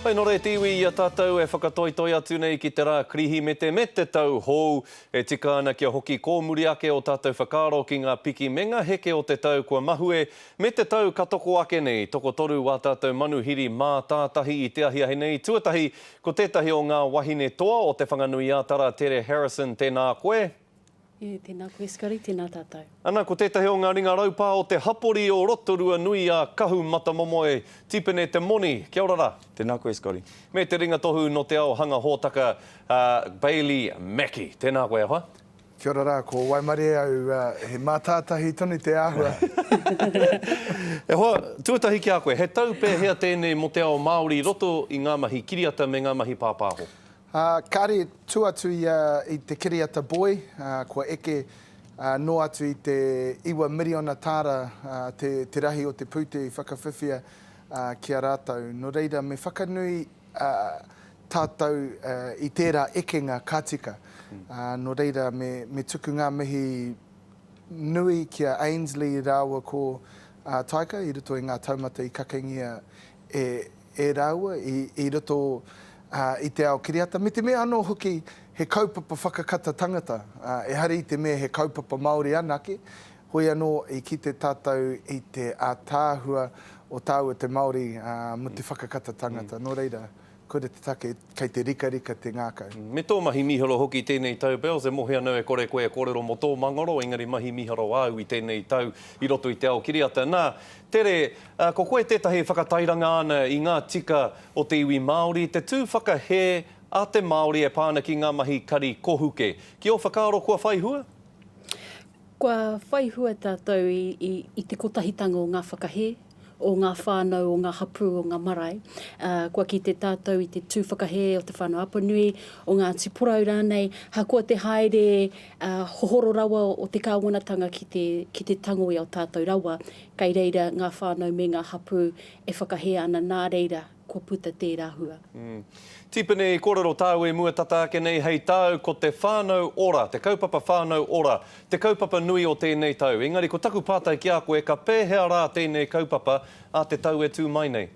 Hei nō reira te iwi i a tātou e whakatoitoi atu nei ki te rā Kirihimete me te tau hou. E tika ana kia hoki kōmuri ake ō tātou whakaaro ki ngā piki me ngā heke o te tau kua mahue me te tau ka toko ake nei, tokotoru wā tātou manuhiri mātātahi i te ahiahi nei. Tuatahi, ko tētahi o ngā wahine toa o Te Whanganui-ā-Tara, Tere Harrison, tēnā koe. E, tēnā koe Skari, tēnā tātou. Ana ko tētahi o ngā ringa raupā o te hapori o Rotorua nui a Kahu Matamomoe, Tipene Te Moni, kia ora rā. Tēnā koe Skari. Me te ringa tohu nō Te Ao Hanga Hōtaka a Bailey Mackie, tēnā koe e hoa. Kia ora rā, ko Waimarie au, he mātātahi tonu te āhua. E hoa, tuatahi ki a koe, he tau pēhea tēnei mō te ao Māori i roto i ngā mahi kiriata me ngā mahi pāpāho? Ā, kāre tū atu ia i te kiriata boi, ā, kua eke, ā, noa atu i te iwa miriona tāra, ā, te, te rahi o te pūtea i whakawhiwhia, ā, ki a rātou. Nō reira, me whakanui, ā, tātou, ā, i tērā ekenga ka tika. Ā, nō reira, me, me tuku ngā mihi nui ki a Ainsley rāua ko, ā, Taika i roto i ngā taumata i kakengia e, e rāua i i roto i te ao kiriata me te mea anō hoki he kaupapa whakakata tangata, ehara i te mea he kaupapa Māori anake, hoi anō i kite tātou i te ātaahua o tāua te Māori mō te whakakata tangata. Nō reira, koira te take. Kei te rikarika te ngakau. Me tō mahi miharo hoki tēnei tau Bells e mohi anō e kore koe e kōrero mo tō mangaro engari mahi miharo āu i tēnei tau i roto i te ao kiriata nā Tere ā ko koe tētahi e whakatairanga ana i ngā tika o te iwi Māori te tū whakahē a te Māori e pā ana ki ngā mahi kari kohuke ki ō whakaaro kua whai hua? Kua whai hua tātou i te kotahitanga o ngā whakahē o ngā whānau, o ngā hapū, o ngā marae. Kua kite tātou i te tū whakahē o Te Whānau Apanui, o Ngāti Porou rānei, hakoa te haere hohoro rawa o te kāwanatanga ki te tango i a tātou rawa, kei reira ngā whānau me ngā hapū e whakahē ana nā reira kua puta tērā hua. Tipene i kōrero tāu e mua tata ake nei hei tāu ko te whānau ora, te kaupapa whānau ora, te kaupapa nui o tēnei tau. Engari ko taku pātai ki a koe ka pēhea rā tēnei kaupapa a te tau e tū mai nei?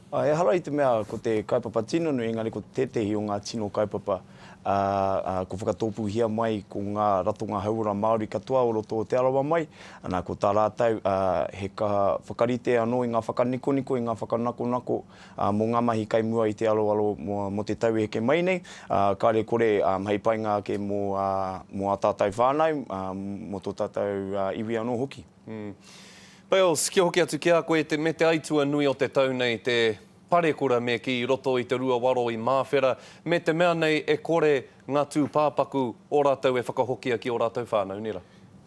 Ehara i te mea ko te kaupapa tino nui engari ko tētehi o ngā tino kaupapa ā, kua whakatōpūhia mai ko ngā ratonga hauora Māori katoa o roto o Te Arawa mai, ana, ko tā rātou he kaha whakarite anō i ngā whakanikoniko, i ngā whakanakonako mō ngā mahi kai mua i te aroaro mō te tau e heke mai nei, ā, kāre kore hei painga ake mō ā tātou whānau, mō tō tātou iwi anō hoki. Bales, kia hoki atu ki a koe, me te aitua nui o te tau nei te. Parekura me kī i roto i te ruawaro i Māwhera, me te mea nei e kore ngā tūpāpaku o rātou e whakahokia ki o rātou whānau nera.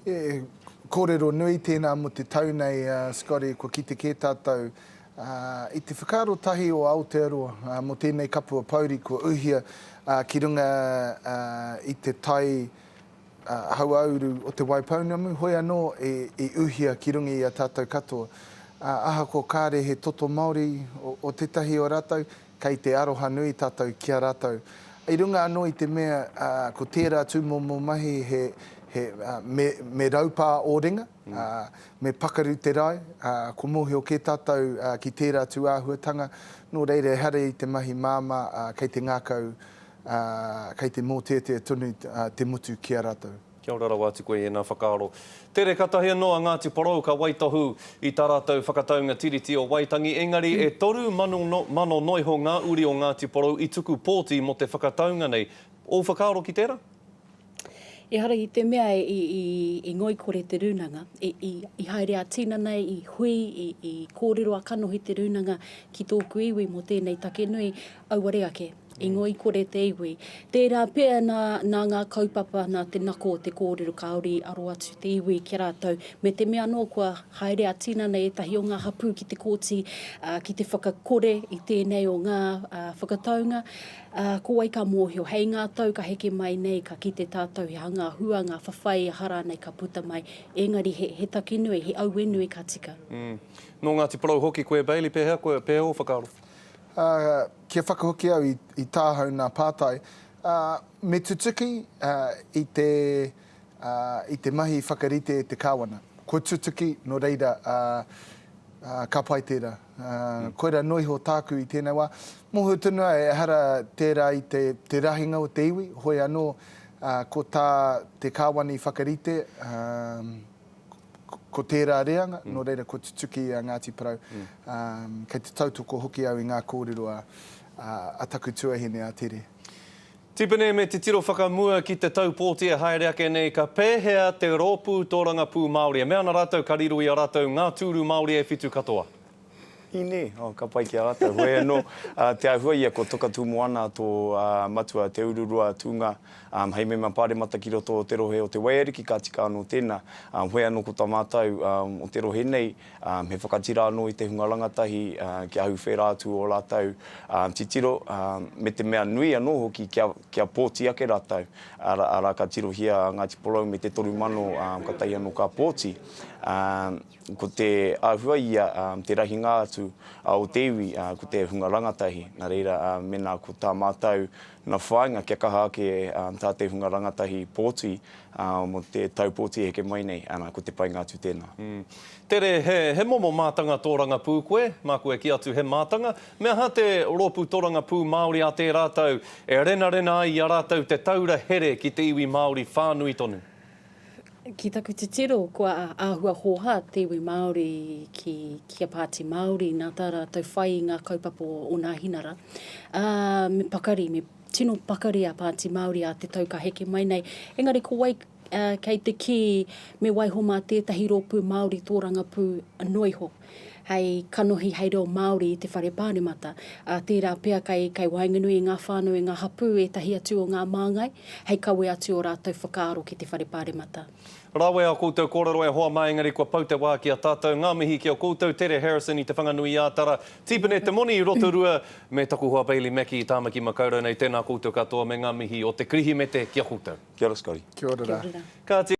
He kōrero nui tēnā mō te tau nei, Scotty, kua kite kē tātou i te whakaaro tahi o Aotearoa mō tēnei kapua pouri kua uhia ki runga i te tai Hauāuru o Te Waipounamu, hoi anō i uhia ki runga i a tātou katoa. Ahakoa kāre he toto Māori o tētahi o rātou, kei te aroha nui tātou ki a rātou. I runga anō i te mea ko tērā tūmomo mahi he me raupā ō ringa, me pakaru te rae, kua mōhio kē tātou ki tērā tūāhuatanga, nō reira ehara i te mahi māmā kei te ngākau ā, kei te mōteatea tonu te motu ki a rātou. Kia ora rawa atu koe i ēnā whakaaro. Tere katahi anō a Ngāti Porou ka waitohu i tā rātou whakataunga Tiriti o Waitangi, engari e toru mano mano noiho ngā uri o Ngāti Porou i tuku pōti mō te whakataunga nei. Ōu whakaaro ki tērā? Ehara i te mea i ngoikore te rūnanga, i haere a tinana, i hui, i kōrero a kanohi te rūnanga ki tōku iwi mō tēnei take nui, auare ake, i ngoikore te iwi. Tērā pea nā ngā kaupapa, nā te nako o te kōrero Kāori i aro atu te iwi ki a rātou, me te mea anō kua haere a tinana ētahi o ngā hapū ki te kōti ki te whakakore i tēnei o ngā whakataunga, Ā, ko wai ka mōhio, hei ngā tau ka heke mai nei, ka kite tātou he aha ngā hua, ngā whawhai, aha rānei ka puta mai, engari he, he taki nui, he aue nui ka tika. Mm. Nō Ngāti Porou hoki koe, Bailey, pēhea koe, pēhea ō whakaaro? Ā, kia whakahoki au i, i tāhau nā pātai, ā, me tutuki, ā, i te. i te mahi whakarite e te Kāwana. Kua tutuki, nō reira, ka pai tērā. Koirā noa iho tāku i tēnei wā. Mōhio tonu au, ehara tērā i te rahinga o te iwi, hoi anō, ko tā te Kāwana i whakarite, ko tērā reanga, nō reira, kua tutuki i a Ngāti Porou. Kei te tautoko hoki au i ngā kōrero a taku tuahine, a Tere. Tipene me titiro whakamua ki te taupōti e haere ake nei ka pēhea te rōpū tōrangapū Māori. E mea ana rātou ka riro i a rātou ngā tūru Māori e whitu katoa. Ine, oh, ka pai ki a rātou. Hoi anō, te āhua ia ko Toka Tūmoana tō matua Te Ururua tūnga hei mema pāremata ki roto o te rohe o Te Waiariki ka tika anō tēnā. Hoi anō ko tā mātou o te rohe nei, He whakatira anō i te hunga rangatahi kia ahuwhera atu ō rātou titiro, me te mea nui anō hoki kia pōti ake rātou, arā, ka tirohia a Ngāti Porou me te toru mano ka tahi anō ka pōti. Ko te āhua ia, te rahinga atu o te iwi ko te hunga rangatahi, nā reira, mēnā ko tā mātou Ngā whāinga kia kaha ake tā te hunga rangatahi pōti mō te tau pōti e heke mai nei, ana, ko te painga atu tēnā. Tere, he momo mātanga tōrangapū koe? Māku e kī atu he mātanga. Me aha te Rōpū Tōrangapū Māori a tē rātou e renarena ai i a rātou te taura here ki te iwi Māori whānui tonu? Ki taku titiro, kua āhua hōhā te iwi Māori ki kia Pāti Māori, nā tā rātou whai i ngā kaupapa o o Nāhinara. Ā, me pakari, me tino pakari a Pāti Māori ā te tau ka heke mai nei. Engari ko wai kei te kī me waiho mā tētahi rōpū Māori tō rangapū noa iho? hei kanohi hei reo Māori i te Whare Pāremata, ā, tērā pea kei, kei waenganui i ngā whānau, i ngā hapū, ētahi atu o ngā māngai, hei kawe atu ō rātou whakaaro ki te Whare Pāremata. Rawe ā koutou kōrero e hoa mā engari kua pau te wā ki a tātou. Ngā mihi ki a koutou, Tere Harrison i Te Whanganui-ā-Tara, Tipene Te Moni i Rotorua, me taku hoa Bailey Mackie i Tāmaki Makaurau nei. Tēnā koutou katoa me ngā mihi o Te Kirihimete ki a koutou. Kia ora Scotty. Kia ora ra. Kia ora. Kāti.